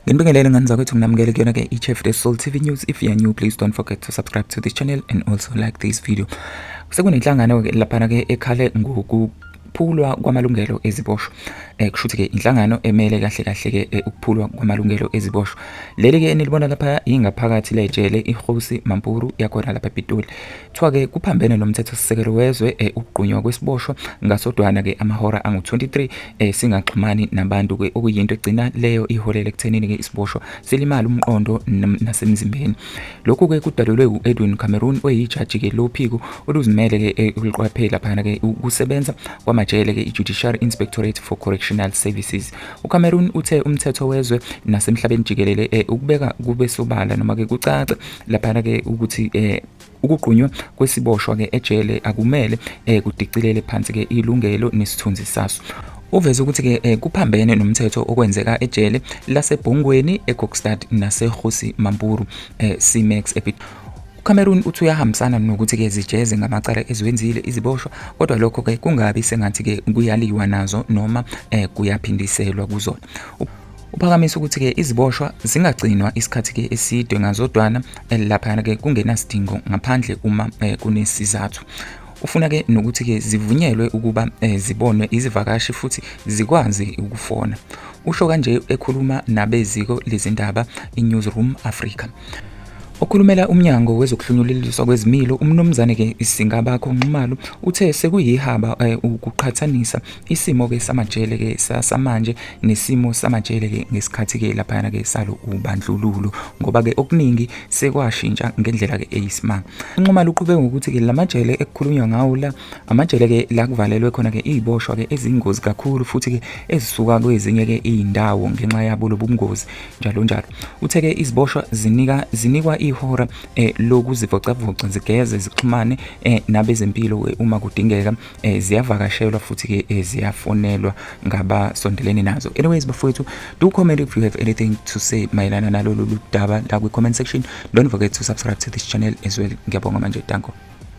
Nginibingelele ngani zakwethu nginamukele kuyona ke iChef The Soul TV News. If you are new please don't forget to subscribe to this channel and also like this video. Sekunenhlangano ke lapha ke ekhale ngoku ukuphulwa kwamalungelo eziboshwa eh kusho ukuthi ke inhlangano emele kahle kahle ke eh, ukuphulwa kwamalungelo eziboshwa leli ke enilibona lapha ingaphakathi lejele ihosi mampuru yakhona lapha ePitoli Kuthiwa-ke kuphambene nomthethosisekelo wezwe eh, ukugqunywa kwesiboshwa ngasodwana-ke amahora angu-23 eh, singaxhumani nabantu-ke okuyinto egcina leyo iholela ekuthenini-ke isiboshwa silimale umqondo nasemzimbeni. Lokhu-ke kudalelwe u-Edwin Cameron oyijaji-ke lophiko oluzimele-ke eh, oluqwaphe laphana-ke ukusebenza kwamajele-ke i-Judiciary Inspectorate for Correctional Services. UCameron uthe umthetho wezwe nasemhlabeni jikelele ukubeka kube sobala noma-ke kucace laphana-ke ukuthi Ukugqunywa kwesiboshwa ke ejele akumele eh, kudicilele phansi ke ilungelo nesithunzi saso. Uveze ukuthi ke eh, kuphambene nomthetho okwenzeka ejele laseBhongweni eGokstad naseGosi Mampuru eh, Cmax ePit. UCameroon uthi uyahambisana nokuthi ke zijeze ngamacala eziwenzile iziboshwa kodwa lokho ke kungabi sengathi ke kuyaliwa nazo noma eh, kuyaphindiselwa kuzona. Uphakamisa ukuthi-ke iziboshwa zingagcinwa isikhathi-ke eside ngazodwana eh, laphayana-ke kungenasidingo ngaphandle uma eh, kunesizathu ufuna-ke nokuthi-ke zivunyelwe ukuba eh, zibonwe izivakashi futhi zikwazi ukufona usho kanje ekhuluma nabeziko lezindaba i-newsroom africa Okhulumela umnyango wezokuhlunyuleliswa kwezimilo umnumzane ke Singabakho Nxumalo uthe sekuyihaba eh, ukuqhathanisa isimo ke samajele ke samanje nesimo samajele ke ngesikhathi ke laphayana ke salo ubandlululo ngoba ke okuningi sekwashintsha ngendlela ke eyisimanga inqoma luqhube ngokuthi ke lamajele ekukhulunywa ngawo la amajele ke la kuvalelwe khona ke iziboshwa ke ezingozi kakhulu futhi ke ezisuka kwezinye ke izindawo ngenxa yabo lobungozi njalo njalo uthe ke iziboshwa zinika zinikwa ihora eh, lokuzivocavoca zigeze zixhumane eh, nabezempilo eh, uma kudingeka eh, ziyavakashelwa futhi ke eh, ziyafonelwa ngabasondelene nazo anyways bafowethu do comment if you have anything to say mayelana nalolu daba la kwi-comment section don't forget to subscribe to this channel as well ngiyabonga manje danko